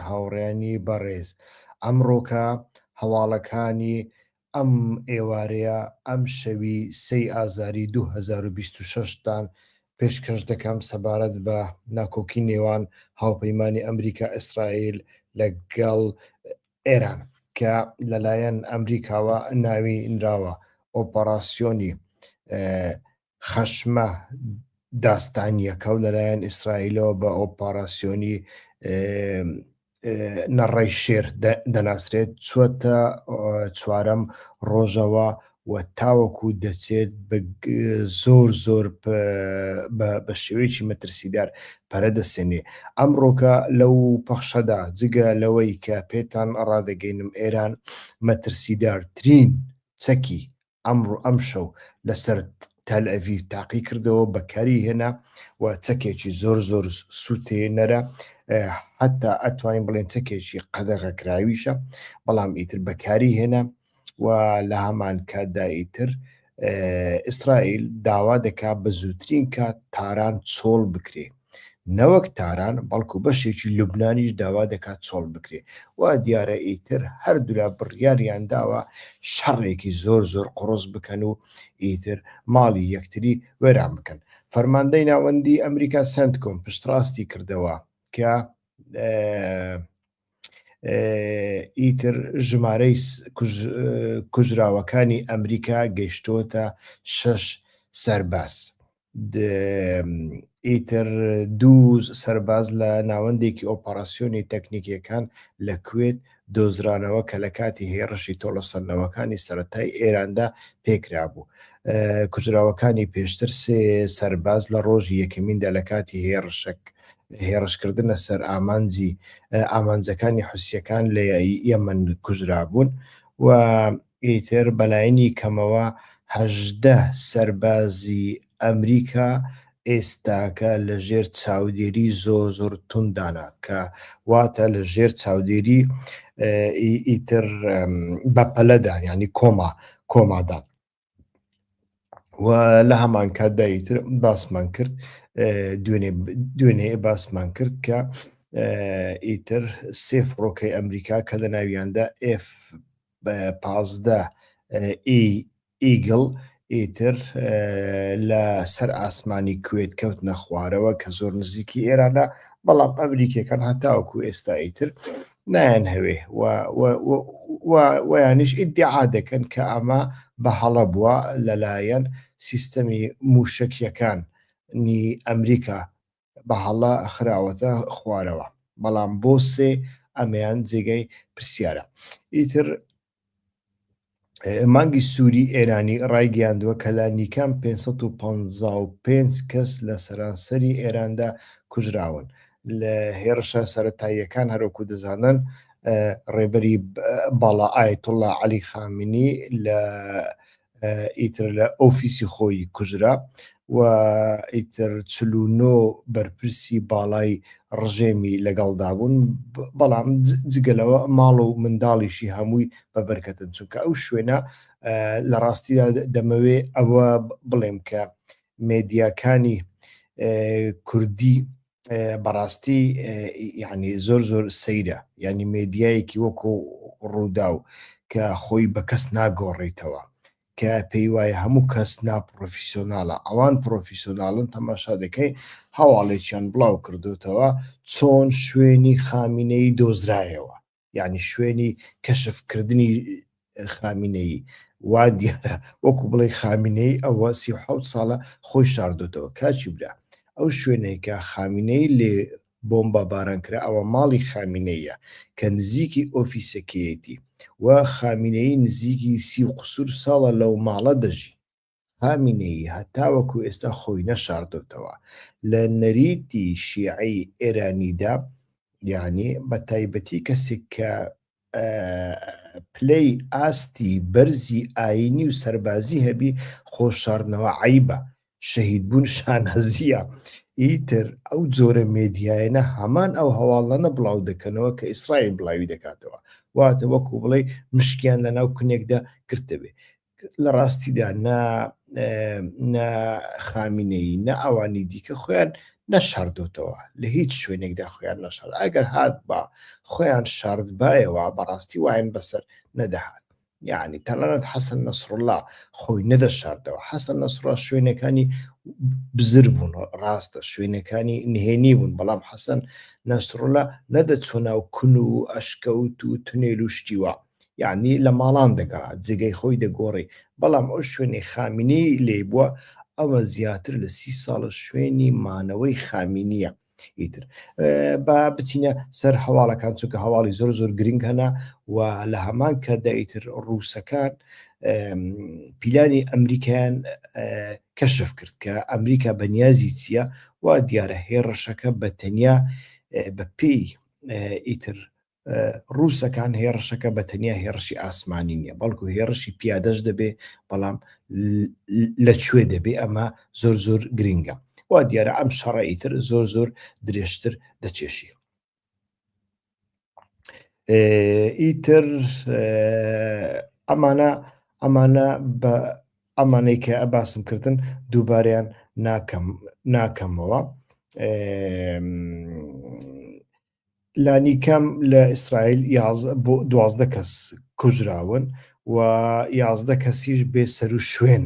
هاوڕێیانی بەڕێز ئەمڕۆکە هەواڵەکانی ئەم ئێوارەیە ئەم شەوی سێی ئازاری دوو هەزار و بیست و شەش تان پێشکەش دەکەم سەبارەت بە ناکۆکی نێوان هاوپەیمانی ئەمریکا ئیسرائیل لە گەڵ ئێران کە لەلایەن ئەمریکاوە ناوی نراوە ئۆپەڕاسیۆنی خەشمە داستانییەکە و لەلایەن ئیسرائیلەوە بە ئۆپاراسیۆنی نەڕەی شێر دەناسرێت چوەتە چوارەم ڕۆژەوە و تاوەکو دەچێت زۆر زۆر بە شێوەیەکی مەترسیدار پەرە دەسێنێ ئەم ڕۆکە لەو پەخشەدا جگە لەوەی کە پێتان ڕادەگەینم ئێران مەترسیدارترین چەکی ئەمڕۆ ئەمشەو لەسەر تەلئەڤیڤ تاقی کردەوە بەکاری هێنا و چەکێکی زۆر زۆر سووتێنەرە حتا ئەتوانین بڵێن چەکێکی قەدەغەکراویشە بەڵام ئیتر بەکاری هێنا و لە هەمان کاتدا ئیتر ئیسرائیل داوا دەکات بە زووترین کات تاران چۆڵ بکرێت نەوەک تاران بەڵکو بەشێکی لوبنانیش داوا دەکات چۆڵ بکرێت، وا دیارە ئیتر هەردوولا بڕیاریان داوە شەڕێکی زۆر زۆر قوڕس بکەن و ئیتر ماڵی یەکتری وێران بکەن. فەرماندەی ناوەندیی ئەمریکا سەنتکۆم پشتڕاستی کردەوە کە ئیتر ژمارەی کوژراوەکانی ئەمریکا گەیشتووەتە شەش سەرباز. ئیتر دوو سەرباز لە ناوەندێکی ئۆپەراسسیۆنی تەکنیکیەکان لە کوێت دۆزرانەوە کە لە کاتی هێڕشی تۆڵەسەندنەوەکانی سەتای ئێراندا پێکرابوو کوژراوەکانی پێشتر سێ سەرباز لە ڕۆژی یەکەمیندا لە کاتی هێڕشک هێڕشکردنە سەر ئامانجی ئامانجەکانی حوسیەکان لە یەمن کوژرابوون و ئیتر بەلایەنی کەمەوە هەژدە سەربازی ئەمریکا ئێستاکە لە ژێر چاودێری زۆر زۆر تونددانە کە واتە لە ژێر چاودێری ئیتر بەپەلەدا یعنی کۆما کۆمادان و لە هەمان کاتدا ئیتر باسمان کرد دوێنێ باسمان کرد کە ئیتر سێ فڕۆکەی ئەمریکا کە لە ناویاندا F پازدە ئیگڵ ئیتر لە سەر ئاسمانی کوێت کەوتنە خوارەوە کە زۆر نزیکی ئێرانە بەڵام ئەمریکیەکان هەتاوەکو ئێستا ئیتر نایەن هەوێ ویانش ئیدعا دەکەن کە ئەمە بە هەڵە بووە لەلایەن سیستەمی موشەکیەکان نی ئەمریکا بە هەڵە خراوەتە خوارەوە بەڵام بۆ سێ ئەمەیان جێگای پرسیارە ئیتر مانگی سووری ئێرانی ڕایگەیاندووە کە لە نیکەم 555 کەس لە سەرانسەری ئێراندا کوژراون لە هێرشە سەتاییەکان هەرۆکو دەزانن ڕێبەری باڵا ئاەتوڵە علی خامنی لە ئیتر لە ئۆفیسی خۆی کوژرا و ئیتر چلونۆ بەرپرسی باڵای ڕژێمی لەگەڵدا بوون بەڵام جگەلەوە ماڵ و منداڵیشی هەمووی بە بەرکەتن چونکە ئەو شوێنە لە ڕاستیدا دەمەوێ ئەوە بڵێم کە مێدیاکانی کوردی بەڕاستی یعنی زۆر زۆر سەیرە ینی مێدیایەکی وەکۆ ڕووداو کە خۆی بە کەس ناگۆڕیتەوە کە پێی وایە هەموو کەس ناپڕۆفیسۆناالە ئەوان پرۆفیسۆناالن تەماشا دەکەی هەواڵێکیان بڵاو کردوتەوە چۆن شوێنی خامینەی دۆزرایەوە یعنی شوێنی کەشفکردنی خامینەی وا دیارە وەکو بڵێ خامینەی ئەوە سی حوت ساڵە خۆی شاردۆتەوە کاچی برا ئەو شوێنێکە خامینەی لێ بۆمبا باران کرا ئەوە ماڵی خامینەیە کە نزیکی ئۆفیسەکەیەتی و خامینەی نزیکی سی و قسوور ساڵە لەو ماڵە دەژی خامینەیی هەتاوەکو ئێستا خۆی نەشاردۆتەوە لە نەریتی شیعەی ئێرانیدا، یەعنی بە تایبەتی کەسێک کە پلەی ئاستی بەرزی ئاینی و سەربازی هەبی خۆ شاردنەوە عیبە شەهیدبوون شانازیە ئیتر ئەو جۆرە مێدیایەنە هەمان ئەو هەواڵانە بڵاو دەکەنەوە کە ئیسرائیل بڵاوی دەکاتەوە واتە وەکو بڵێ مشکیان لە ناو کونێکدا گرتەبێ لە ڕاستیدا نە نە خامینەی نە ئەوانی دیکە خۆیان نەشاردۆتەوە لە هیچ شوێنێکدا خۆیان نەشار ئەگەر هات بە خۆیان شاردبایەوە بەڕاستی وایەن بەسەر نەدەهات یعنی تەنانەت حەسەن نەسرڵا خۆی نەدەشاردەوە حەسەن نەسرا شوێنەکانی بزر بوون ڕاستە شوێنەکانی نهێنی بوون بەڵام حەسەن نەسرڵە نەدەچۆ ناو کون و ئەشکەوت و تونێل و شتیوە یعنی لە ماڵان دەگەڕا جێگەی خۆی دەگۆڕی بەڵام ئەو شوێنی خامینەی لێ بووە ئەوە زیاتر لە سی ساڵە شوێنی مانەوەی خامینیە ئیتر با بچینە سەر هەواڵەکان چونکە هەواڵی زۆر زۆر گرنگ هەنا و لە هەمان کە دایتر ڕووسەکان پیلانی ئەمریکایان کەشف کرد کە ئەمریکا بەنیازی چییە و دیارە هێڕشەکە بە تەنیا بە پێی ئیتر ڕووسەکان هێڕشەکە بە تەنیا هێڕشی ئاسمانی نییە بەڵکو هێڕشی پیادەش دەبێ بەڵام لە کوێ دەبێ ئەمە زۆر زۆر گرنگە وا دیارە ئەم شەڕی تر زۆر زۆر درێژتر دەچێشی ئیتر ئەمانە ئەمانە بە ئەمانەی کە ئەباسم کردن دووباریان ناکەم ناکەمەوە لانیکەم لە ئیسرائیل دوازدە کەس کوژراون و یازدە کەسیش بێ سەر و شوێن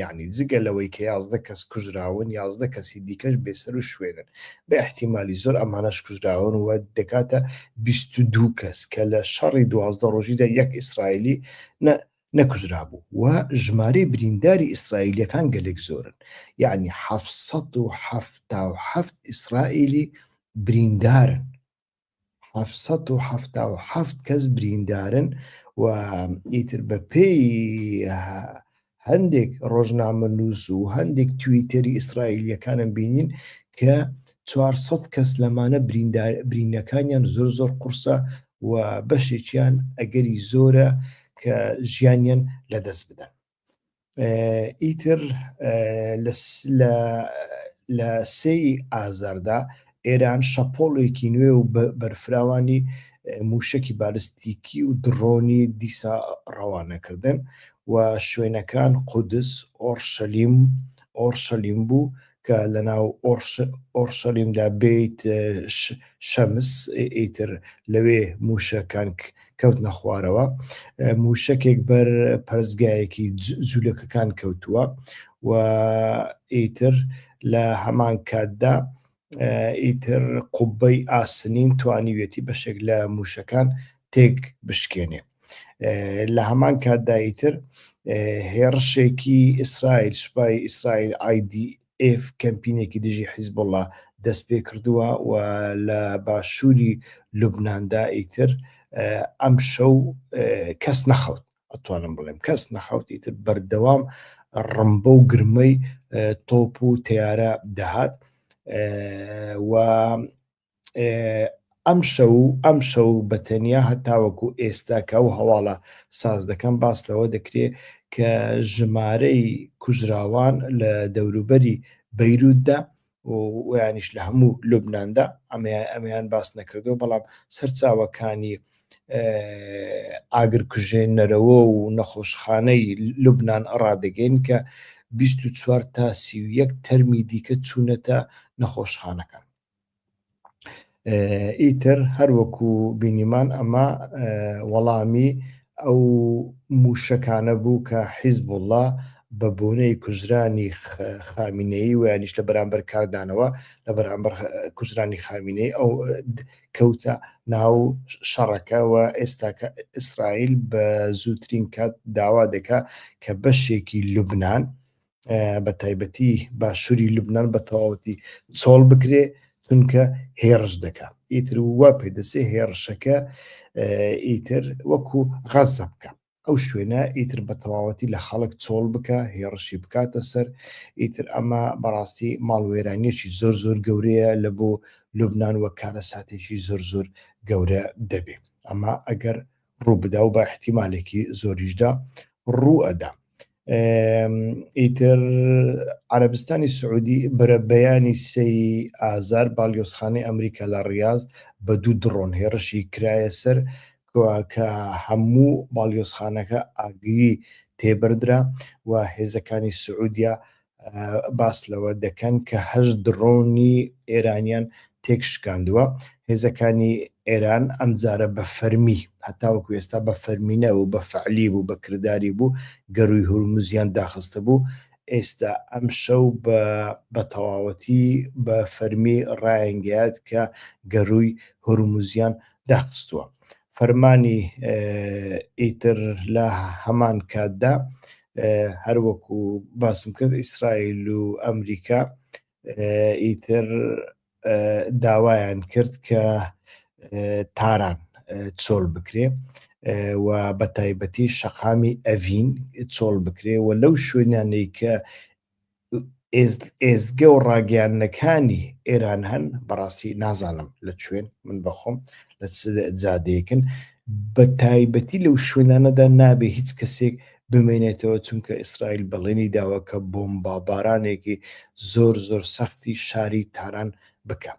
یعنی جگە لەوەی کە یازدە کەس کوژراون یازدە کەسی دیکەش بێسەر و شوێنن بە احتیممالی زۆر ئەمانەش کوژراون و دەکاتە 22 کەس کە لە شەڕی دوازدە ڕۆژیدا یەک ئیسرائیلی نەکوژرابوو و ژمارەی برینداری ئیسرائیلییەکان گەلێک زۆرن، یەعنی حەفت سەد و حەفتا و حەفت ئیسرائیلی بریندارن، حەفت سەد و حەفتا و حەفت کەس بریندارن و ئیتر بەپێی هەندێک ڕۆژنامەنووس و هەندێک تویتەری ئیسرائیلییەکانم بینین کە چوار سەد کەس لەمانە برینەکانیان زۆر زۆر قورسە و بەشێکیان ئەگەری زۆرە کە ژیانیان لەدەست بدەن ئیتر لە سێی ئازاردا ئێران شەپۆڵێکی نوێ و بەرفراوانی موشکی بالستیکی و دڕۆنی دیسا ڕەوانەکردن و شوێنەکان قودس ئۆرشەلیم ئۆرشەلیم بوو کە لەناو ئۆڕشەلیمدا بێیت شەمس ئیتر لەوێ مووشەکان کەوتنە خوارەوە مووشەکێک بەر پەرستگایەکی جوولەکەکان کەوتووە و ئیتر لە هەمان کاتدا ئیتر قوبەی ئاسنین توانیوێتی بەشێک لە مووشەکان تێک بشکێنێت لە هەمان کاتدا ئیتر هێڕشێکی ئیسرائیل سوپای ئیسرائیل ئایدی ئف کەمپینێکی دژی حیزبوڵا دەست پێ کردووە و لە باشووری لوبناندا ئیتر ئەم شەو کەس نەخەوت ئەتوانم بڵێم کەس نەخەوت ئیتر بەردەوام ڕمبە و گرمەی تۆپ و تیارە دەهات و ئەم شەو ئەم شەو بە تەنیا هەتاوەکو ئێستا کە ئەو هەواڵە ساز دەکەم باس لەوە دەکرێت کە ژمارەی کوژراوان لە دەوروبەری بەیرووددا ویانیش لە هەموو لوبنااندا ئەمیان ئەمیان باس نەکردو بەڵام سەرچاوەکانی ئاگرکوژێنەرەوە و نەخۆشخانەی لوبناان ڕادەگەین کە 24 تا 31 تەرمی دیکە چوونەتە نەخۆشخانەکان ئیتر هەروەکو بینیمان ئەمە وەڵامی ئەو مووشەکانە بوو کە حیزبوڵڵا بە بۆنەی کوژرانی خامینەی و یانیش لە بەرامبەر کاردانەوە لە بەرامبەر کوژرانی خامینەی ئەو کەوتە ناو شەڕەکەەوە ئێستاکە ئیسرائیل بە زووترین کات داوا دەکا کە بەشێکی لوبناان بە تایبەتی باشووری لوبنان بە تەواوەتی چۆڵ بکرێ چونکە هێڕش دەکە ئیتر وا پێدەسێ هێڕشەکە ئیتر وەکو غەزە بکە ئەو شوێنە ئیتر بە تەواوەتی لە خەڵک چۆڵ بکە هێڕشی بکاتە سەر ئیتر ئەمە بەڕاستی ماڵوێرانیەکی زۆر زۆر گەورەیە لە بۆ لوبناان وە کارە ساتێکی زۆر زۆر گەورە دەبێ ئەمە ئەگەر ڕووبدا و بە احتیمالێکی زۆریشدا ڕوو ئەدا ئیتر عربستانی سعودی برە بەیانی سەی ئازار باڵیۆزخانەی ئەمریکا لە ڕاز بە دوو دڕۆن هێڕشی کرایە سەر کە هەموو باڵیۆزخانەکە ئاگری تێبردرا و هێزەکانی سعودیا باس لەوە دەکەن کە هەشت دڕۆنی ئێرانیان تێک شکاندووە هێزەکانی ئێران ئەم جارە بە فەرمی هەتاوەکو ئێستا بە فەرمینە و بە فعلی بوو بە کردداری بوو گەروی هورمزیان داخستە بوو ئێستا ئەم شەو بە بە تەواوەتی بە فەرمی ڕایەنگات کە گەروی هورمزیان داخستووە فەرمانی ئیتر لە هەمان کاتدا هەروەکو باسم کرد ئیسرائیل و ئەمریکا ئیتر داوایان کرد کە تاران چۆل بکرێ و بە تایبەتی شەقامی ئەڤین چۆڵ بکرێ و لەو شوێنانەی کە ئێزگە و ڕاگەیاندنەکانی ئێران هەن بەڕاستی نازانم لە کوێن من بەخۆم لە چ جادەیەکن بە تایبەتی لەو شوێنانەدا نابێ هیچ کەسێک بمێنێتەوە چونکە ئیسرائیل بەڵێنی داوە کە بۆمبابارانێکی زۆر زۆر سەختی شاری تاران بکە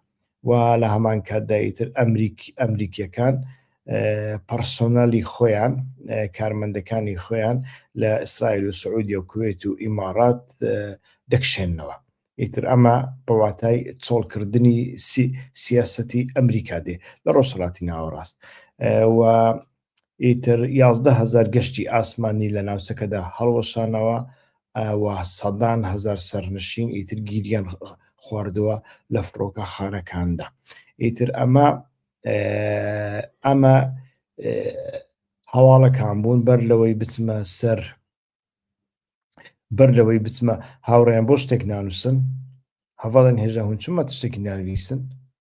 و لە هەمان کاتدا ئیتر ئەمریکییەکان پەرسۆنالی خۆیان کارمەندەکانی خۆیان لە ئیسرائیل و سعودیە و کوێت و ئیمارات دەکشێنەوە ئیتر ئەمە بەواتای چۆڵکردنی سیاسەتی ئەمریکا دێ لە ڕۆژهڵاتی ناوەڕاست و ئیتر یازدە هەزار گەشتی ئاسمانی لە ناوچەکەدا هەڵوەشانەوە و سەدان هەزار سەرنشین ئیتر گیریان خواردووە لە فڕۆکەخانەکاندا ئیتر ئەمە ئەمە هەواڵەکان بوون بەر لەوەی بچمە سەر بەر لەوەی بچمە هاوڕێن بۆ شتێک نانووسن هەواڵن هێژە هون چمە شتێکی نانویسن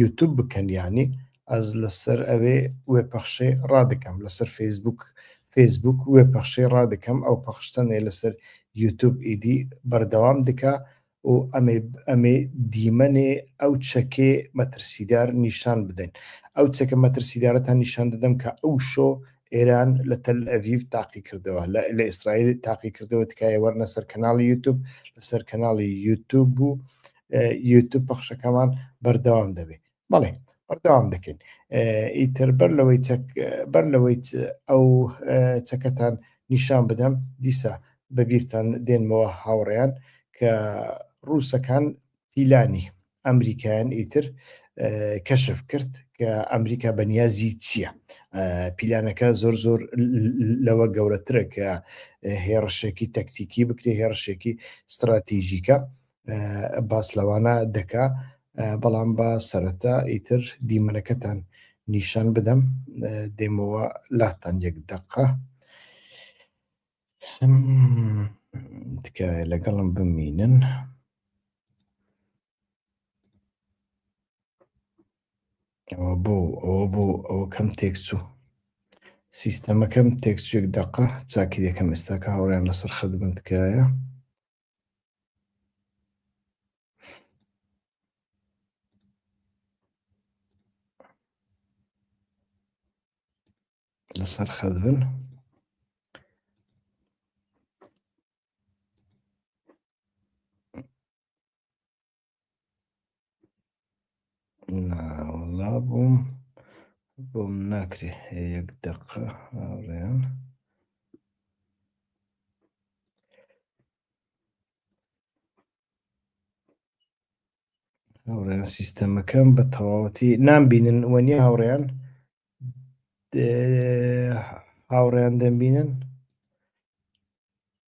یوتوب بکەن یانی ئەز لەسەر ئەوێ وێ پەخشێ ڕادەکەم لەسەر فەیسبووک فەیسبووک وێ پەخشێ ڕادەکەم ئەو پەخشتەنێ لەسەر یوتوب ئیدی بەردەوام دکا و ئەمێ ئەمێ دیمەنێ ئەو چەکێ مەترسیدار نیشان بدەین ئەو چەکە مەترسیدارەتان نیشان دەدەم کە ئەو شۆ ئێران لە تەل ئەڤیف تاقی کردەوە لە ئیسرائیل تاقی کردەوە تکایە وەرنە سەر کەناڵی یوتوب لەسەر کەناڵی یوتوب بوو یوتوب پەخشەکەمان بەردەوام دەبێت بەڵێ بەردەوام دەکەین ئیتر بەر لەوەی بەر لەوەی ئەو چەکەتان نیشان بدەم دیسا بەبییرتان دێنمەوە هاوڕێیان کە ڕووسەکان پیلانی ئەمریکایان ئیتر کەشف کرد کە ئەمریکا بەنیازی چییە پیلانەکە زۆر زۆر لەوە گەورەترە کە هێڕشێکی تەکتیکی بکرێ هێڕشێکی استراتیژیکە باس لەوانە دەکا بەڵام با سەرەتا ئیتر دیمەنەکەتان نیشان بدەم دێمەوە لاتان یەک دەقە تکایە لەگەڵم بمینن. ئەوە بۆ ئەوە بۆ ئەوە کەم تێکچوو سیستەمەکەم تێکچێک دقە چاکی دەکەم ئێستاکە هاوڕیان لەسەر خەدمن تکایە لەسەر خەت بن ناوەڵا بووم بۆم ناکرێ یەک دەقە هاوڕێن هاوڕێن سیستەمەکەم بە تەواوەتی نامبینن وەنیە هاوڕێن هاوڕێن دەمبینن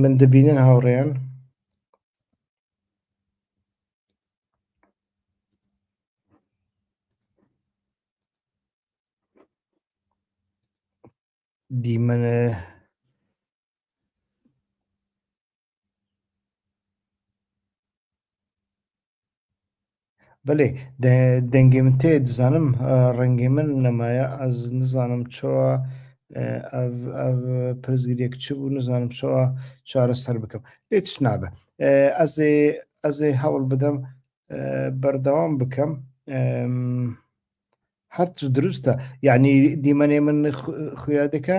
من دەبینن هاوڕێیان دیمەنە بەێ دەنگی من تێ دزانم ڕەنگی من نەمایە ئەز نزانم چۆوە پرزگیرێک چ بوو نزانم چۆوە چارە سەر بکەم لێت نابە ئەزێ ئەزێ هەوڵ بدەم بەردەوام بکەم هەرچ دروستە یعنی دیمەێ من خویادەکە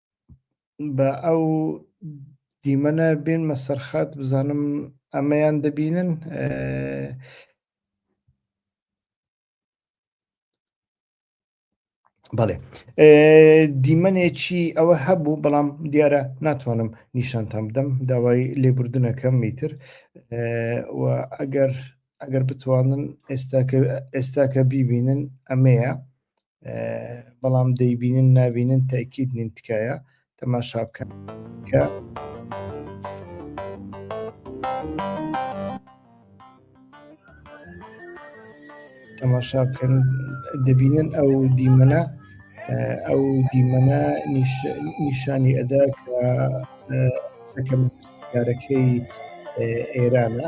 بە ئەو دیمەنە بێنمە سەرخات بزانم ئەمەیان دەبینن بەڵێ دیمەنێکی ئەوە هەبوو بەڵام دیارە ناتوانم نیشانتان بدەم داوای لێبوردنەکەم میتر ئەگەر ئەگەر بتوانن ئێستا کە بیبینن ئەمەیە بەڵام دەیبینن نابینن تاکیت نین تکایە تەماشا بکەن کە تەماشا بکەن دەبینن ئەو دیمەنە ئەو دیمەنە نیشانی ئەدا کە سەکەمەکارەکەی ئێرانە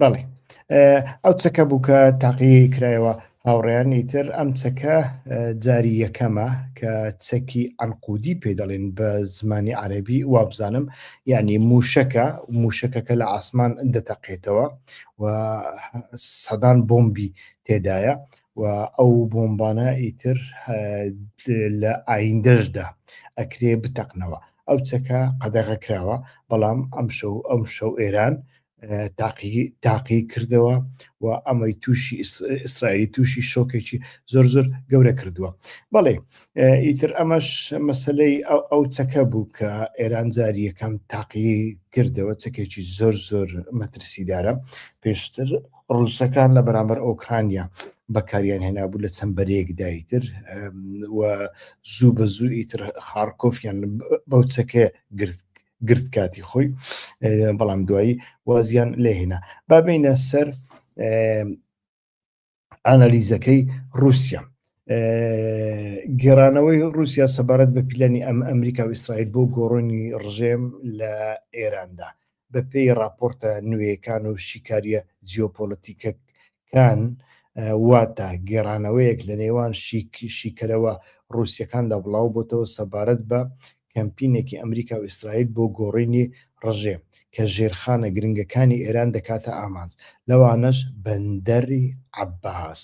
بەڵێ ئەو چەکە بوو کە تاقیی کرایەوە هاوڕێیان ئیتر ئەم چەکە جاری یەکەمە کە چەکی ئەنقودی پێ دەڵێن بە زمانی عەربی وابزانم یعنی موشەکە موشەکەکە لە ئاسمان دەتەقێتەوە و سەدان بۆمبی تێدایە و ئەو بۆمبانە ئیتر لە ئایندەشدا ئەکرێ بتەقنەوە ئەو چەکە قەدەغە کراوە بەڵام ئەم شەو ئەم شەو ئێران تاقی کردەوە و ئەمەی تووشی ئیسرائیلی تووشی شۆکێکی زۆر زۆر گەورە کردووە بەڵێ ئیتر ئەمەش مەسلەی ئەو چەکە بوو کە ئێران جاری یەکەم تاقی کردەوە چەکێکی زۆر زۆر مەترسیدارە پێشتر ڕوسەکان لە بەرامبەر ئۆکرانیا بەکاریان هێنابوو لە چەند بەرەیەکدا ئیتر و زوو بە زوو ئیتر خارکۆفیان بەو چەکە گرت گرت کاتی خۆی بەڵام دوایی وازیان لێهێنا بابینە سەر ئانالیزەکەی رووسیا گێرانەوەی رووسیا سەبارەت بە پیلانی ئەم ئەمریکا و ئیسرائیل بۆ گۆڕۆنی ڕژێم لە ئێراندا بە پێی راپۆرتە نوێیەکان و شیکاریە جیۆپۆلەتیکەکان واتە گێرانەوەیەک لە نێوان شیکەرەوە رووسەکاندا بڵاو بۆتەوە سەبارەت بە کەمپینێکی ئەمریکا و ئیسرائیل بۆ گۆڕینی ڕژێم کە ژێرخانە گرنگەکانی ئێران دەکاتە ئامانج، لەوانەش بەندەری عەباس.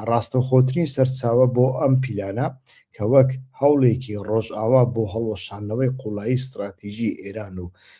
ڕاستەوخۆترین سەرچاوە بۆ ئەم پیلانە کە وەک هەوڵێکی ڕۆژئاوا بۆ هەڵوەشاندنەوەی قووڵایی ستڕاتیژی ئێران و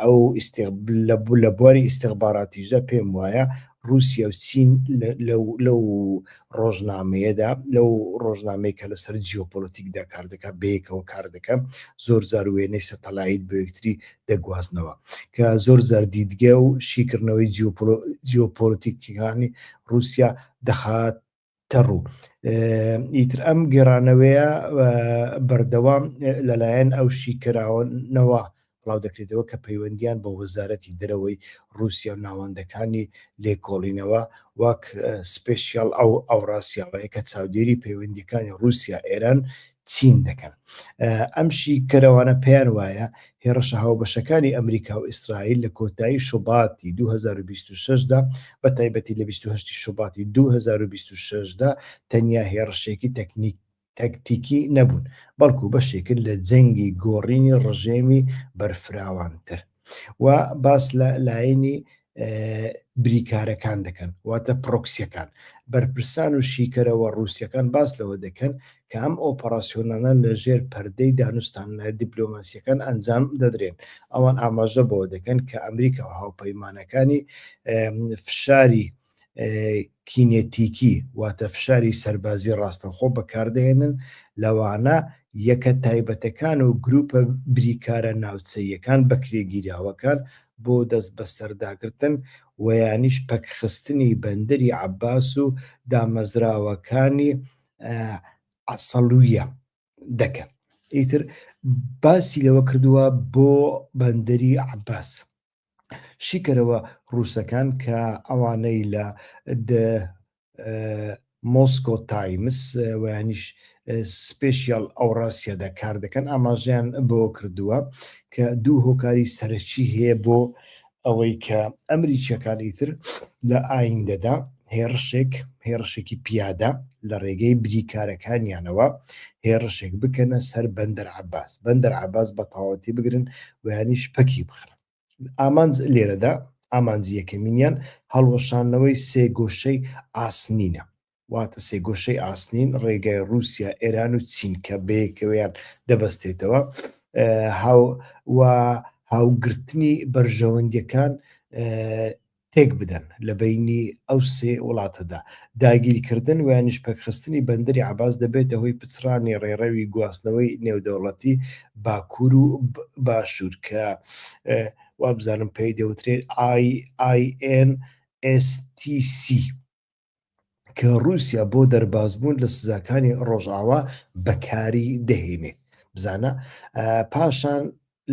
ئەو لە بواری ئیسیغباراتیشدا پێم وایە رووسیا و چین لەو ڕۆژنامەیەدا لەو ڕۆژنامەی کە لەسەر جیۆپۆلتیکدا کار دەکات بەیەکەوە کار دەکە زۆر جار وێنەی سەتەلایت بۆ یەکتری دەگوازنەوە کە زۆر جار دیدگە و شیکردنەوەی جیۆپۆلتیکیەکانی رووسیا دەخات تەڕوو ئیتر ئەم گێڕانەوەیە بەردەوام لەلایەن ئەو شیکراوەنەوە بڵاو دەکرێتەوە کە پەیوەندیان بە وەزارەتی دەرەوەی رووسیا و ناوەندەکانی لێکۆڵینەوە وەک سپشیال ئەو ئەوڕاسیاوەیە کە چاودێری پەیوەندیەکانی رووسیا ئێران چین دەکەن. ئەم شیکەرەوانە پێیان وایە هێڕشە هاوبەشەکانی ئەمریکا و ئیسرائیل لە کۆتایی شوباتی 2026 دا بە تایبەتی لە 28 شوباتی 2026 دا تەنیا هێڕشێکی تەکنیکی تەکتیکی نەبوون، بەڵکو بەشێکن لە جەنگی گۆڕینی ڕژێمی بەرفراوانتر. و باس لە لایەنی بریکارەکان دەکەن واتە پرۆکسیەکان بەرپرسان و شیکەرەوە ڕوسیەکان باس لەوە دەکەن کە ئەم ئۆپەراسسیۆنانە لە ژێر پەردەی دانوستان لە دیپلۆماسیەکان ئەنجام دەدرێن ئەوان ئاماژە بەوە دەکەن کە ئەمریکا و هاوپەیمانەکانی فشاری کینێتیکی واتە فشاری سەربازی ڕاستەوخۆ بەکاردەهێنن، لەوانە یەکە تایبەتەکان و گروپە بریکارە ناوچەییەکان بەکرێگیراوەکان بۆ دەستبەسەرداگرتن و یانیش پەکخستنی بەندەری عەباس و دامەزراوەکانی عەسەڵویە دەکەن. ئیتر باسی لەوەکردوە بۆ بەندەری عەباس شیکەرەوە ڕووسەکان کە ئەوانەی لە مۆسکۆ تایمس ویانیش سپێشیال ئەوڕاسیەدا کار دەکەن ئاماژیان بۆ کردووە کە دوو هۆکاری سەرەکی هەیە بۆ ئەوەی کە ئەمریکیەکانی تر لە ئایندەدا هێڕشێک هێڕشێکی پیادە لە ڕێگەی بریکارەکانیانەوە هێڕشێک بکەنە سەر بەندەر عباس بەندەر عباس بە تەواوەتی بگرن ویانیش پەکی بخرن ئامانج لێرەدا ئامانجی یەکەمینیان هەڵوەشانەوەی سێ گۆشەی ئاسنینە واتە سێگۆشەی ئاسنین ڕێگای رووسیا ئێران و چین کە بەیەکەوەیان دەبەستێتەوە هاو و هاوگرتنی بەرژەوەندیەکان تێک بدەن لە بەینی ئەو سێ وڵاتەدا. داگیرکردن ویانیش پەکخستنی بەندەری عەباس دەبێتە هۆی پچڕانی ڕێڕەوی گواستنەوەی نێودەوڵەتی باکوور و باشوور کە وابزانم پێی دەوترێت IINSTC. کە رووسیا بۆ دەربازبوون لە سزاکانی ڕۆژاوا بەکاری دەهێنێت بزانە پاشان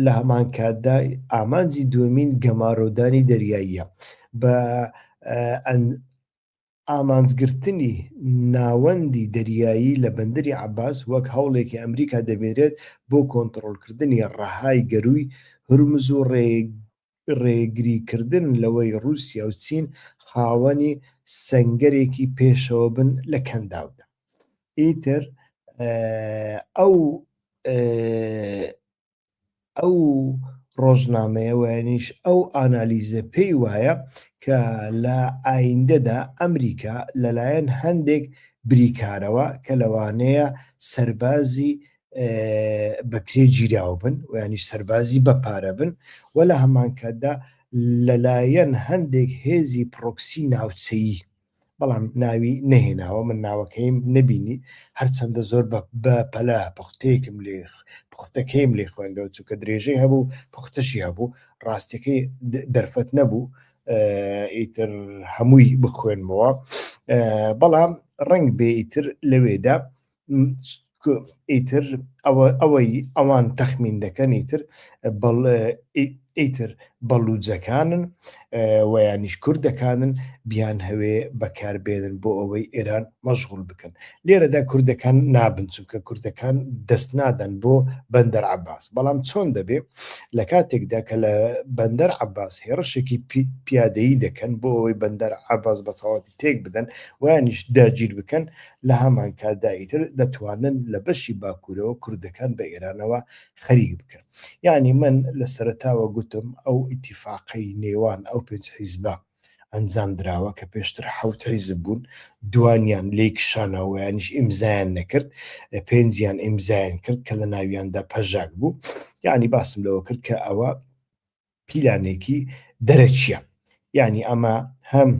لە هەمانکاتدا ئامانجی دومین گەمارۆدانی دەریاییە بە ئامانجگرتنی ناوەندی دەریایی لە بەندری عباس وەک هەوڵێکی ئەمریکا دەبێرێت بۆ کۆنتترۆلکردنی ڕەهای گەروی هەرمز و ڕێ ڕێگریکردن لەوەی ڕووسیا و چین خاوەنی سەنگەرێکی پێشەوە بن لە کەنداودا. ئیتر ئەو ئەو ڕۆژنامەیە وایەنیش ئەو ئانالیزە پێی وایە کە لە ئایندەدا ئەمریکا لەلایەن هەندێک بریکارەوە کە لەوانەیە سەربازی بە کرێ گیراو بن و ینی سەربازی بە پارە بن و لە هەمانکاتدا لەلایەن هەندێک هێزی پرۆکسی ناوچەیی بەڵام ناوی نەهێناوە من ناوەکەیم نەبینی هەرچەندە زۆر بە پەلا پختەیەکم لێ پختەکەیم لێ خوێندەوە چونکە درێژەی هەبوو پختەشی هەبوو ڕاستەکەی دەرفەت نەبوو ئیتر هەمووی بخوێنمەوە بەڵام ڕنگ بێ ئیتر لەوێدا ئیتر ئەوە ئەوەی ئەوان تەخمین دەکەن ئیتر بەڵ ئیتر بەڵوجەکانن ویانیش کوردەکانن بیان هەوێ بەکاربێنن بۆ ئەوەی ئێران مەشغول بکەن لێرەدا کوردەکان نابن چونکە کوردەکان دەست نادەن بۆ بەندەر عباس بەڵام چۆن دەبێ لە کاتێکدا کە لە بەندەر عباس هێڕشێکی پیادەیی دەکەن بۆ ئەوەی بەندەر عباس بەتەواتی تێک بدەن ویانیش داگیر بکەن لە هەمانکاتدا ئیتر دەتوانن لە بەشی باکوورەوە کوردەکان بە ئێرانەوە خەریک بکەن. یانی من لە سەرەتاوە گوتم ئەو ئیتیفاقەی نێوان ئەو پێنج حیزبە ئەنجام دراوە کە پێشتر حەوت حیزب بوون، دووانیان لێی کشانەوە یانیش ئیمزایان نەکرد، پێنجیان ئیمزایان کرد کە لە ناویاندا پەژاک بوو. یانی باسم لەوە کرد کە ئەوە پیلانێکی دەرەکییە. یانی ئەمە هەم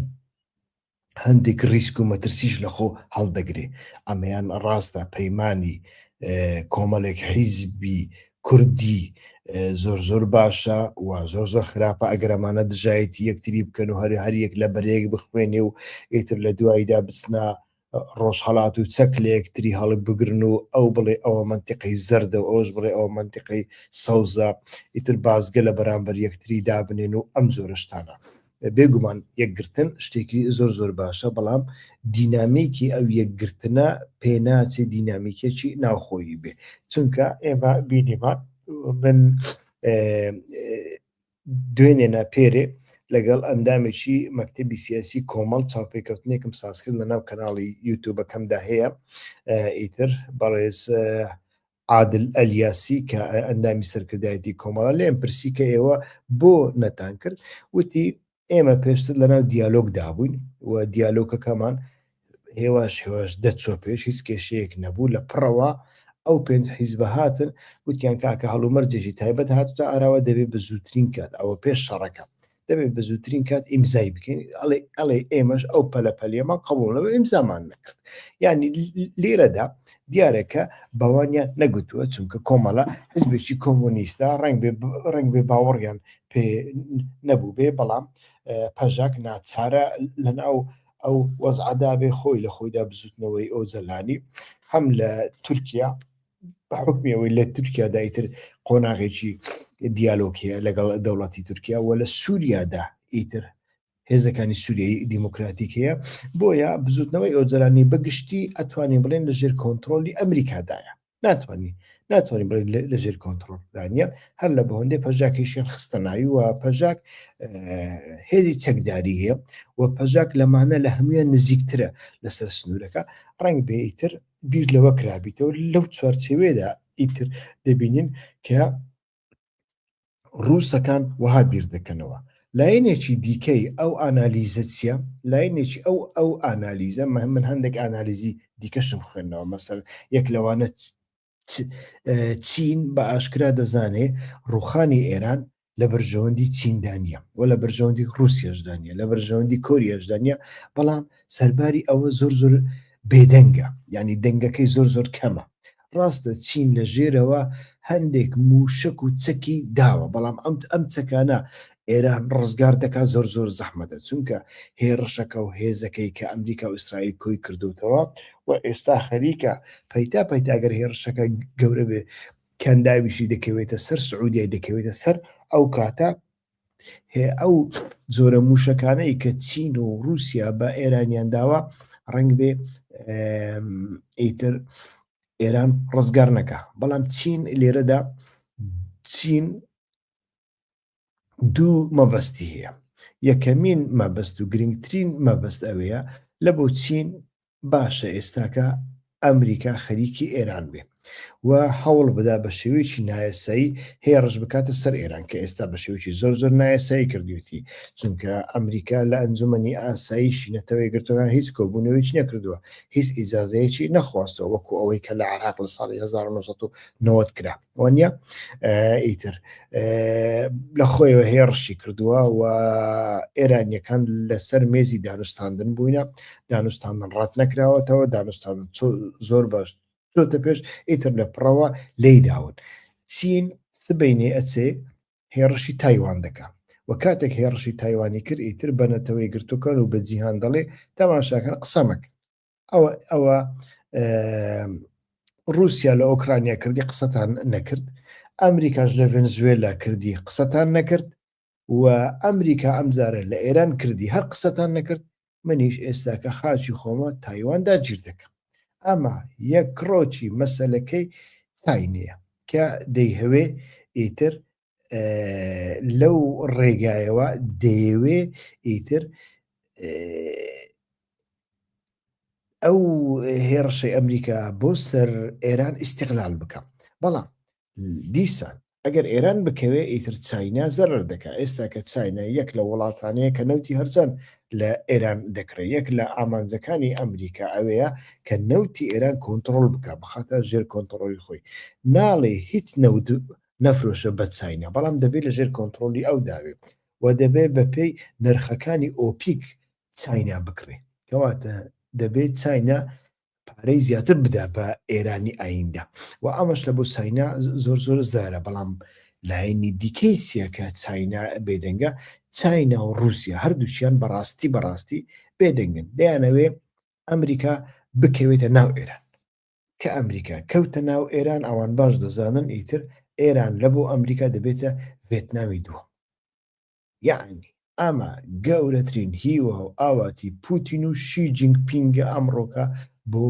هەندێک ریسک و مەترسیش لە خۆ هەڵدەگرێ ئەمەیان ڕاستە پەیمانی کۆمەڵێک حیزبی کوردی زۆر زۆر باشە و زۆر زۆر خراپە ئەگەرەمانە دژایەتی یەکتری بکەن و هەر هەر یەک لە بەرەیەک بخوێنێ و ئیتر لە دواییدا بچنا ڕۆژهڵات و چەک لە یەکتری هەڵک بگرن و ئەو بڵێ ئەوە منتیقی زەردە و ئەوش بڵێ ئەوە منتیقی سەوزە ئیتر بازگە لە بەرامبەر یەکتری دابنێن و ئەم زۆرشتانە بێگومان یەکگرتن شتێکی زۆر زۆر باشە بەڵام دینامیکی ئەو یەکگرتنە پێناچێ دینامیکێکی ناوخۆیی بێ چونکە ئێمە بینیمان من دوێنێ ناپێرێ لەگەڵ ئەندامێکی مەکتتەبی سیاسی کۆمەڵ چاوپێکەوتنێکم سازکرد لە ناو کەناڵی یوتوبەکەمدا هەیە ئیتر بەڕێز عادل ئەلیاسی کە ئەندامی سەرکردایەتی کۆمەڵە لێم پرسی کە ئێوە بۆ نەتان کرد وتی ئێمە پێشتر لەناو دیالۆگ دابووین و دیالۆکەکەمان هێواش هێواش دەچۆ پێش هیچ کێشەیەک نەبوو لە پڕەوە ئەو پێنج حیزبە هاتن وتیان کاکە هەڵومەرجێکی تایبەت هاتوتە ئاراوە دەبێت بە زووترین کات ئەوە پێش شەڕەکە دەبێت بە زووترین کات ئیمزای بکەین ئەڵێ ئەڵێ ئێمەش ئەو پەلەپەلێمە قبولەوە ئیمزامان نەکرد ینی لێرەدا دیارەکە بەوانیان نەگوتووە چونکە کۆمەڵە حزبێکی کۆمۆنیستا ڕنگ ڕنگ بێ باوەڕیان پێ نەبوو بێ بەڵام پەژاک ناچارە لەناو ئەو وەزعدا بێ خۆی لە خۆیدا بزوتنەوەی ئەو جەلانی هەم لە تورکیا بە حکمی ئەوەی لە تورکیادا ئیتر قۆناغێکی دیالۆکیە لەگەڵ دەوڵەتی تورکیا و لە سووریادا ئیتر هێزەکانی سووریایی دیموکراتیک هەیە بۆیە بزوتنەوەی ئۆجرانی بەگشتی ئەتوانین بڵێن لە ژێر کۆنتترۆلی ئەمریکادایە ناتوانانی ناتوانین بڵێن لە ژێر کۆنتترۆلدانە هەر لە بەهۆندێ پەژاکیشیان خستە ناوی و پەژاک هێزی چەکداری هەیە و پەژاک لەمانە لە هەمویان نزیکترە لەسەر سنوورەکە ڕنگ بێتر بیر لەوە کرابیتەوە لەو چوارچێوێدا ئیتر دەبینین کە ڕووسەکان وەها بیر دەکەنەوە لایەنێکی دیکەی ئەو ئانالیزە چییە لایەنێکی ئەو ئەو ئانالیزە مە من هەندێک ئانالیزی دیکەشم خوێندنەوە مەسەر یەک لەوانە چین بە ئاشکرا دەزانێ ڕوخانی ئێران لە بەرژەوەندی چیندا نییە و لە بەرژەوەندی رووسیشدا نیە لە بەرژەوەندی کۆریەشدا نیە بەڵام سەرباری ئەوە زۆر زۆر بێدەنگە ینی دەنگەکەی زۆر زۆر کەمە ڕاستە چین لە ژێرەوە هەندێک موشک و چەکی داوە بەڵام ئەم ئەم چەکانە ئێران ڕزگار دەکا زۆر زۆر زەحمەدە چونکە هێڕشەکە و هێزەکەی کە ئەمریکا و ئیسرائیل کۆی کردوتەوە و ئێستا خەریکە پەیتا پەیتاگەر هێڕشەکە گەورە بێ کەنداویشی دەکەوێتە سەر سعودیای دەکەوێتە سەر ئەو کاتە ئەو زۆرە موشەکانەی کە چین و رووسیا بە ئێرانیان داوە ڕنگ بێ ئیتر ئێران ڕزگار نەکە بەڵام چین لێرەدا چین دوو مەبەستی هەیە یەکەمین مەبەست و گرنگترین مەبەست ئەوەیە لە بۆ چین باشە ئێستاکە ئەمریکا خەریکی ئێران بێ و هەوڵ بدا بە شێوەیەکی نایەسایی هێڕش بکاتە سەر ئێران کە ئێستا بە شێوکی زۆر زۆر نایەسایی کردوێتی چونکە ئەمریکا لە ئەنجومنی ئاساییشی نەتەوەی گرتوەکان هیچ کۆبوونەوەیش نەکردووە هیچ ئیزازەیەکی نەخواستەوە وەکو ئەوەی کە لە عراق لە ساڵی 1990 کرا وانە ئیتر لە خۆیەوە هێڕشی کردووە و ئێرانیەکان لەسەر مێزی دانوستاندن بووینە دانوستاندن ڕات نەکراوەتەوە دانوستاندن زۆر باش چۆتە پێش ئیتر لە پڕەوە لی داون چین سبینێ ئەچێ هێڕشی تایوان دەکە و کاتێک هێڕشی تایوانی کرد ئیتر بەنەتەوەی گرتوەکان و بە جیهان دەڵێ تەماشاکەن قسەمەکە ئەوە ئەوە رووسیا لە ئۆکرانیا کردی قسەتان نەکرد ئەمریکاش لە ڤنزوێلا کردی قسەتان نەکرد و ئەمریکا ئەمجارە لە ئێران کردی هەر قسەتان نەکرد منیش ئێستاکە خاچی خۆمە تایواندا گیر دەکەم ئەمە یەک کڕۆکی مەسلەکەی تاینەیە کە دەیهوێ ئیتر لەو ڕێگایەوە دەیەوێ ئیتر ئەو هێڕشەی ئەمریکا بۆ سەر ئێران ئیسیقلال بکەم بەڵام دیسان ئەگەر ئێران بکەوێ ئیتر چاینا زەرر دەکا ئێستا کە چاینا یەک لە وڵاتانەیە کە نەوتی هەرزان لە ئێران دەکرێت یەک لە ئامانجەکانی ئەمریکا ئەوەیە کە نەوتی ئێران کۆنتترۆل بکە بخاتە ژێر کۆنتترۆلی خۆی ناڵێ هیچ نەود نەفرۆشە بە چاینا بەڵام دەبێت لە ژێر کۆنتڕۆلی ئەو دابێت و دەبێت بە پێی نرخەکانی ئۆپیک چاینا بکڕێ کەواتە دەبێت چاینا پارەی زیاتر بدا بە ئێرانی ئایندە و ئەمەش لە بۆ ساینا زۆر زۆر زارە بەڵام لایەنی دیکەی سیەکە چاینا بێدەنگە چاینا و رووسیا هەردووشیان بەڕاستی بەڕاستی بێدەنگن دەیانەوێ ئەمریکا بکەوێتە ناو ئێران کە ئەمریکا کەوتە ناو ئێران ئەوان باش دەزانن ئیتر ئێران لە بۆ ئەمریکا دەبێتە ڤێتنامی دووەم یعنی ئەمە گەورەترین هیوا و ئاواتی پوتین و شی جنگ پینگە ئەمڕۆکە بۆ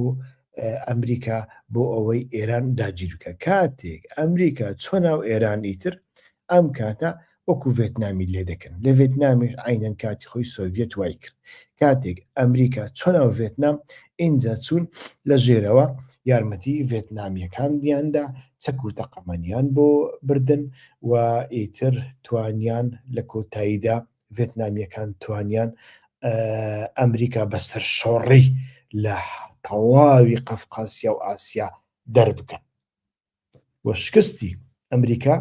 ئەمریکا بۆ ئەوەی ئێران داگیرکە کاتێک ئەمریکا چۆ ناو ئێران ئیتر ئەم کاتە وەکو ڤێتنامی لێ دەکەن لە ڤێتنامیش عینەن کاتی خۆی سۆڤیەت وای کرد کاتێک ئەمریکا چۆن ئەو ڤێتنام ئینجا چوون لە ژێرەوە یارمەتی ڤێتنامیەکان دیاندا چەک و تەقەمەنیان بۆ بردن و ئیتر توانیان لە کۆتاییدا ڤێتنامیەکان توانیان ئەمریکا بەسەر شۆڕی لە تەواوی قەفقاسیا و ئاسیا دەربکەن و شکستی ئەمریکا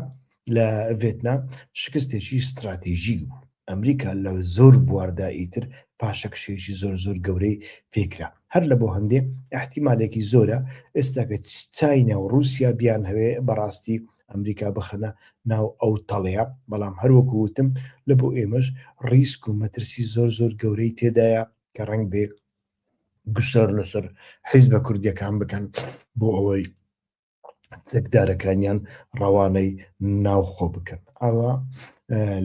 لە ڤێتنام شکستێکی ستراتیژی بوو ئەمریکا لە زۆر بواردا ئیتر پاشەکشێکی زۆر زۆر گەورەی پێکرا هەر لە بۆ هەندێ احتیمالێکی زۆرە ئێستاکە چینە و رووسیا بیان هەوێ بەڕاستی ئەمریکا بخەنە ناو ئەو تەڵەیە بەڵام هەروەکو وتم لە بۆ ئێمەش ڕیسک و مەترسی زۆر زۆر گەورەی تێدایە کە ڕنگ بێ گوشار لەسەر حیزبە کوردیەکان بکەن بۆ ئەوەی چەکدارەکانیان ڕەوانەی ناوخۆ بکەن ئاوا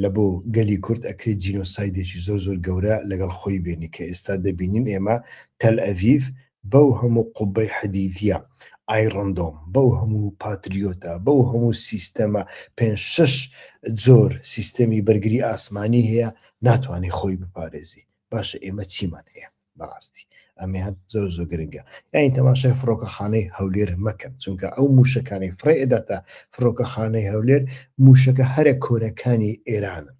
لە بۆ گەلی کورد ئەکرێت جینۆسایدێکی زۆر زۆر گەورە لەگەڵ خۆی بێنی کە ئێستا دەبینین ئێمە تەل ئەڤیف بەو هەموو قوبەی حەدیدە ئایڕندۆم بەو هەموو پاتریۆتە بەو هەموو سیستەمە پێ شش جۆر سیستەمی بەرگری ئاسمانی هەیە ناتوانانی خۆی بپارێزی باشە ئێمە چیمان هەیە بەڕاستی ئەمیان زۆر زۆر گرنگە یاین تەماشای فڕۆکەخانەی هەولێر مەکەن چونکە ئەو موشەکانی فڕێ ئەداتە فڕۆکەخانەی هەولێر موشەکە هەرە کۆنەکانی ئێرانن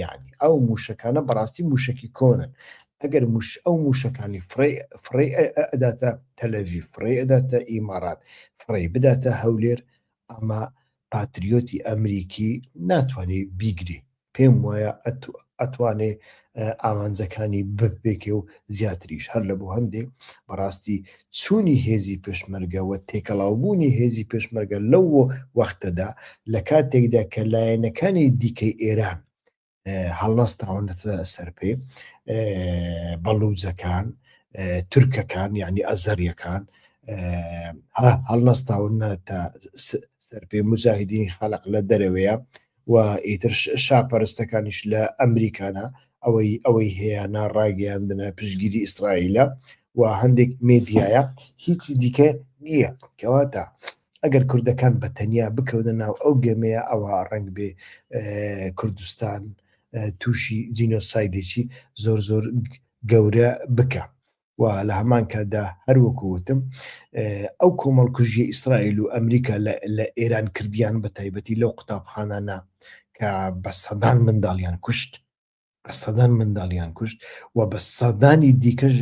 یعنی ئەو موشەکانە بەڕاستی موشکی کۆنن ئەگەر مش ئەو موشەکانی فڕێ ئەداتە تەلەوی فڕێ ئەداتە ئیمارات فڕێ بداتە هەولێر ئەمە پاتریۆتی ئەمریکی ناتوانێ بیگرێ پێم وایە ئەتوانێ ئامانجەکانی بپێکێ و زیاتریش هەر لە بۆ هەندێ بەڕاستی چوونی هێزی پێشمەرگەوە تێکەڵاوبوونی هێزی پێشمەرگە لەو وەختەدا لە کاتێکدا کە لایەنەکانی دیکەی ئێران هەڵنەستاونەتە سەرپێ بەڵوجەکان تورکەکان یعنی ئەزەریەکان هەڵنەستاونەتە سەرپێ مجاهدینی خەلق لە دەرەوەیە و ئیتر شاپەرستەکانیش لە ئەمریکانە ئەوەی ئەوەی هەیەە ڕاگەیاندنە پشگیری ئیسرائیلە و هەندێک مێدیایە هیچی دیکە نییە کەواتە ئەگەر کوردەکان بە تەنیا بکەونە ناو ئەو گەمەیە ئەوا ڕەنگ بێ کوردستان تووشی جینۆسایدێکی زۆر زۆر گەورە بکە و لە هەمان کاتدا هەروەکووتم ئەو کۆمەڵ کوژی ئیسرائیل و ئەمریکا لە ئێران کردیان بە تایبەتی لەو قوتابخانانە کە بە سەدان منداڵیان کوشت بە سەدان منداڵیان کوشت و بە سەدانی دیکەش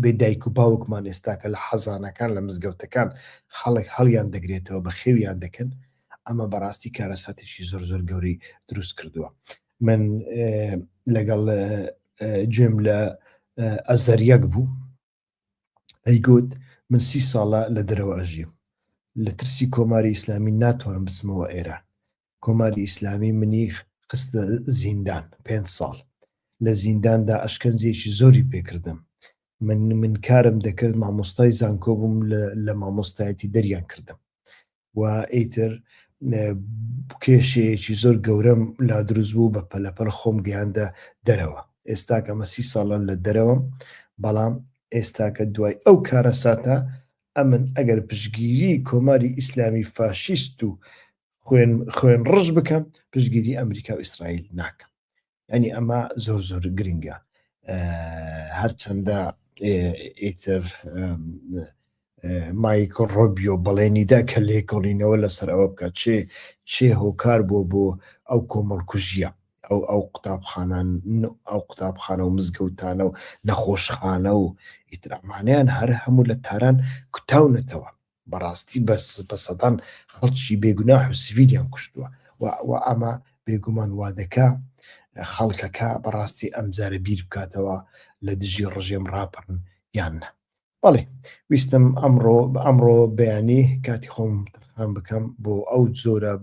بێ دایک و باوکمان ئێستاکە لە حەزانەکان لە مزگەوتەکان خەڵک هەڵیان دەگرێتەوە بە خێویان دەکەن ئەمە بەڕاستی کارەساتێکی زۆر زۆر گەوری دروست کردووە من لەگەڵ گوێم لە ئەزەریەک بوو ئەیگوت من سی ساڵە لە دەرەوە ئەژیم لە ترسی کۆماری ئیسلامی ناتوانم بچمەوە ئێران کۆماری ئیسلامی منی خستە زیندان پێ ساڵ لە زینداندا ئەشکەنجێکی زۆری پێکردم من من کارم دەکرد مامۆستای زانکۆ بووم لە مامۆستایەتی دەریان کردم و ئیتر کێشەیەکی زۆر گەورەم لا دروست بوو بە پەلەپەل خۆم گەیاندە دەرەوە ئێستاکە ئەمە سی ساڵە لە دەرەوەم بەڵام ئێستاکە دوای ئەو کارە ساتە ئەمن ئەگەر پشگیری کۆماری ئیسلامی فاشیست و خوێن خوێن ڕژ بکەم پشگیری ئەمریکا و ئیسرائیل ناکەم ینی ئەمە زۆر زۆر گرنگە هەرچەندە ئیتر مایکۆ ڕۆبیۆ بەڵێنیدا کە لێ کۆڵینەوە لەسەر ئەوە بکە چێ چێ هۆکار بووە بۆ ئەو کۆمەڵکوژیە ئەو ئەو قوتابخانان ئەو قوتابخانە و مزگەوتانە و نەخۆشخانە و ئیترامانیان هەر هەموو لە تاران کوتاونەتەوە بەڕاستی بەس بە سەدان خەڵکی بێگوناح و سڤیلیان کوشتووە و ئەمە بێگومان وادەکە خەڵکەکە بەڕاستی ئەمجارە بیر بکاتەوە لە دژی ڕژێم ڕاپەڕن یان نە بەڵێ ویستم ئەمڕۆ بە ئەمڕۆ بەیانی کاتی خۆم تەرخان بکەم بۆ ئەو جۆرە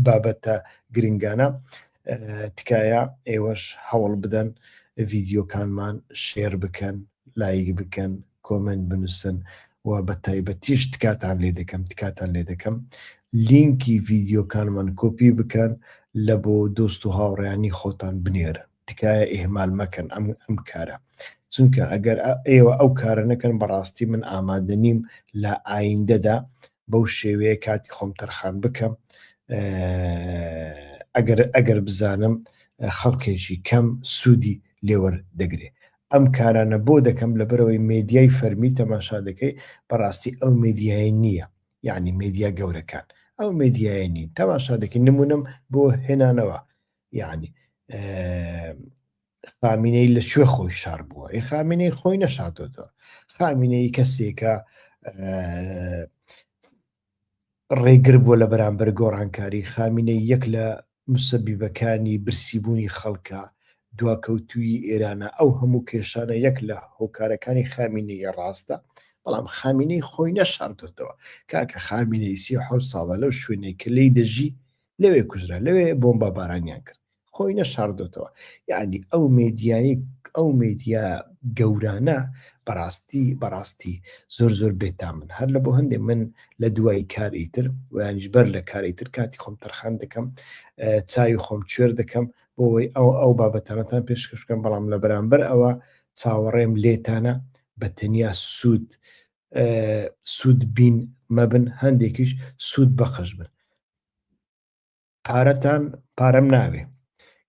بابەتە گرنگانە تکایە ئێوەش هەوڵ بدەن ڤیددیوکانمان شێر بکەن لایک بکەن کۆمێنت بنووسن و بە تایبەتیش تکاتان لێ دەکەم تکاتان لێ دەکەم لینکی ڤیدیۆکانمان کۆپی بکەن لە بۆ دۆست و هاوڕیانی خۆتان بنێرن تکایە ئێهمال مەکەن ئەم ئەم کارە چونکە ئەگەر ئێوە ئەو کارە نەکەن بەڕاستی من ئامادە نیم لە ئایندەدا بەو شێوەیە کاتی خۆم تەرخان بکەم ئەگەر ئەگەر بزانم خەڵکێکی کەم سوودی لێوەر دەگرێت ئەم کارانە بۆ دەکەم لەبەرئەوەی مێدیای فەرمی تەماشا دەکەی بەڕاستی ئەو مێدیایە نییە یەعنی مێدیا گەورەکان ئەو مێدیایە نین تەماشا دەکەی نمونەم بۆ هێنانەوە یەعنی خامینەی لە کوێ خۆی شار بووە ئەی خامینەی خۆی نەشاتۆتەوە خامینەی کەسێکە ڕێگر بووە لە بەرامبەر گۆڕانکاری، خامینەیی یەک لە موسەبیبەکانی برسی بوونی خەڵکە دواکەوتوویی ئێرانە، ئەو هەموو کێشانە یەک لە هۆکارەکانی خامینەییە ڕاستە، بەڵام خامینەیی خۆی نەشاردۆتەوە، کاکە خامینەیی سی و حەوت ساڵە لەو شوێنەی کە لێی دەژی لەوێ کوژرا، لەوێ بۆمبابارانیان کرد، خۆی نەشاردۆتەوە یعنی ئەو مێدیایی ئەو مێدیا گەورانە بەڕاستی بەڕاستی زۆر زۆر بێتا من هەر لە بۆ هەندێک من لە دوای کاری تر ویانش بەر لە کاری تر کاتی خۆم تەرخان دەکەم چاوی خۆم کوێر دەکەم بۆەوەی ئەو ئەو بابەتانەتان پێشکەشکەم بەڵام لە بەرامبەر ئەوە چاوەڕێم لێتانە بە تەنیا سوود سوود بین مەبن هەندێکیش سوود بەخش بن پارەتان پارەم ناوێ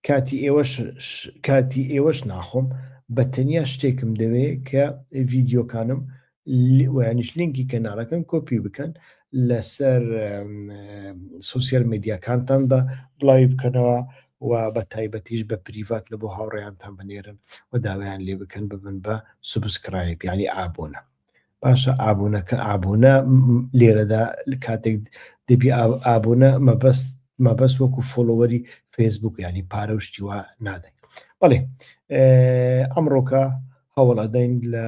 کاتی ئێوەش کاتی ئێوەش ناخۆم بە تەنیا شتێکم دەوێ کە ڤیددیوکانم ویانش لینکی کەناڵەکەن کۆپی بکەن لەسەر سوسیال میدیاکانتاندا بڵاوی بکەنەوە و بە تایبەتیش بە پریڤات لە بۆ هاوڕێیانتان بنێرن و داوایان لێ بکەن ببن بە سوبسکرایب ینی ئابوونە باشە ئابوونە کە ئابوونە لێرەدا کاتێک دەبی ئابوونە مەبەست مەبەست وەکو فۆلۆوەری فەیسبوک ینی پارە و شتیوا نادەین بەڵێ ئەمڕۆکە هەوڵ ئەدەین لە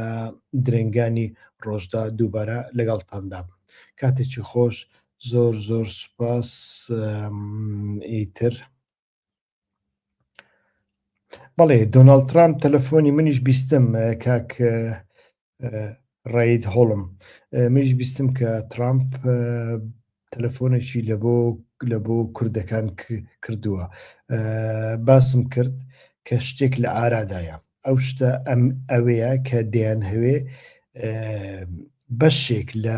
درنگانی ڕۆژدا دووبارە لەگەڵتاندا بم کاتێکی خۆش زۆر زۆر سوپاس ئیتر بەڵێ دۆناڵ ترامپ تەلەفۆنی منیش بیستم کاک ڕید هۆڵم منیش بیستم کە ترامپ تەلەفۆنێکی لە بۆ لە بۆ کوردەکان کردووە باسم کرد کە شتێک لە ئارادایە ئەو شتە ئەم ئەوەیە کە دەیان هەوێ بەشێک لە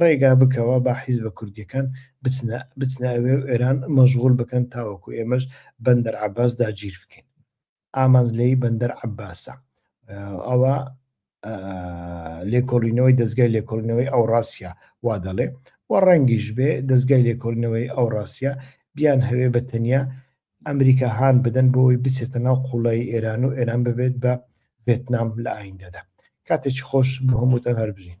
ڕێگا بکەوە با حیزبە کوردیەکان بچنە بچنە ئەوێ و ئێران مەژغول بکەن تاوەکو ئێمەش بەندەر عەباس داگیر بکەین ئامانج لێی بەندەر عەباسە ئەوە لێکۆڵینەوەی دەستگای لێکۆڵینەوەی ئەو ڕاستە وا دەڵێ و ڕەنگیش بێ دەستگای لێکۆڵینەوەی ئەو ڕاستە بیان هەوێ بە تەنیا ئەمریکا هان بدەن بۆ ئەوی بچێتە ناو قوڵایی ئێران و ئێران ببێت بە ڤێتنام لە ئایندەدا کاتێکی خۆش بۆ هەمووتان هەربژین